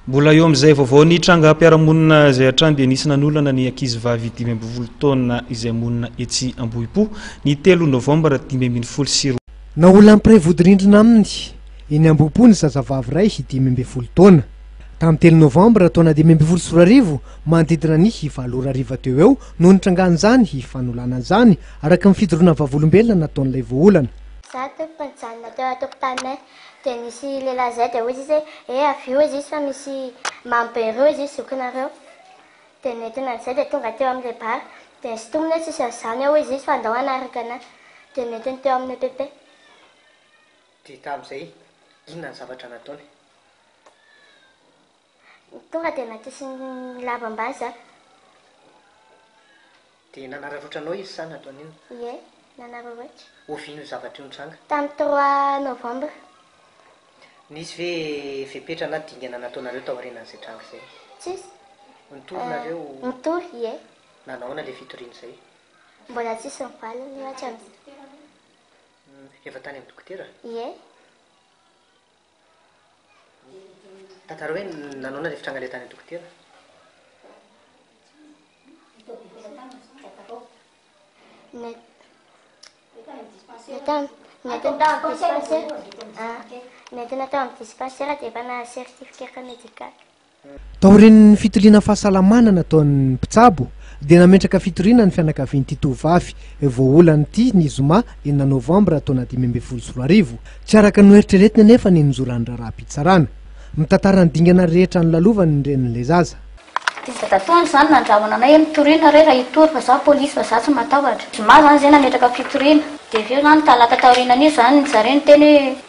Mbola eo amin'izay vaovao ny trangam-piarahamonina izay hatrany dia nisy nanolana ny ankizy vavy dimy ambin'ny folo taona izay monina etsy Ambohipo ny telo novambra dimy ambin'ny folo sy roa Naolan'ny mpiray vodirindrina aminy eny Ambohipo ny zazavavy iray dimy ambin'ny folo taona. Tamin'ny telo novambra taona dimy ambin'ny folo sy roa arivo manodidina ny valo ora hariva teo eo no nitrangan'izany fanolanana izany araka ny fidoroana vavolombelona nataon'ilay voaolana. Zato mpijanona teo an-tokotaninay Dia nisy lehilahy izay dia hoy izy hoe, He avio hoy izy fa misy mamy be roa izy zokinareo. Dia nentina an'izay dia tonga teo amin'ilay bar. Dia sintominy hoe tsisy an'izany ao hoy izy fa andao hanaraka anay. Dia nentiny teo amin'ny EPP. Dia tamin'izay inona ny zavatra nataony? Tonga dia natosiny lava ambany za. Dia nanararaotra anao izy sa nataony inona? Ie, nanararaotra. Oviana io zavatra io nitranga? Tamin'ny trois novembre. Nisy ve fepetra na dingana nataonareo taorianan'izay tranga izay? Tsisy. Nitory nareo? Nitory, ie. Nanahoana ilay fitoriana izay? Mbola tsisy ny valiny io hatramin'izay. Efa tany amin'ny dokotera? Ie. Tantara hoe nanaona ilay fitrangana tany an-dokotera. Natao natao tao amin'ny dispensaire. Natao natao amin'ny dispensaire dia efa na certificat médical. Taorian'ny fitiliana fahasalamana nataon'ny mpitsabo dia nametraka fitoriana ny fianakavian'ity tovovavy voaolana ity ny zoma enina novambra taona dimy ambin'ny folo sy roa arivo. Tsy araka ny noeritreretina anefa ny nozoran'ny raharaham-pitsarana. Mitantara ny dingana rehetra nolalovany ny renin'ilay zaza. Tsy zava-dotoana izany nandrahona anay hoe mitoriana re raha hitory fa izaho polisy fa izaho tsy matahotra. Zoma izany izay nametraka fitoriana. Dia avy eo izany talata taorianan'io izany nijareo niteny hoe.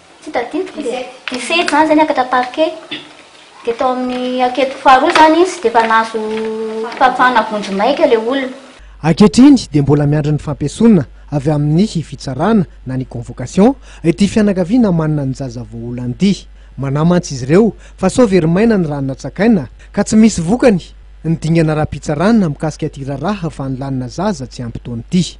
Tsy tadidiko le. Nifehy zany zay niakatra parquet de tao amin'ny ankety faharoa zany izy de efa nahazo fahafahana vonjimaika le olona. Ankehitriny dia mbola miandry ny fampiesona avy amin'ny fitsarana na ny convocation ity fianakaviana manana ny zaza voaolana ity. Manahy mantsy izy ireo fa sao very maina ny rà natsakaina ka tsy misy vokany ny dingana ara-pitsarana mikasika ity raharaha fanolanana zaza tsy ampy taona ity.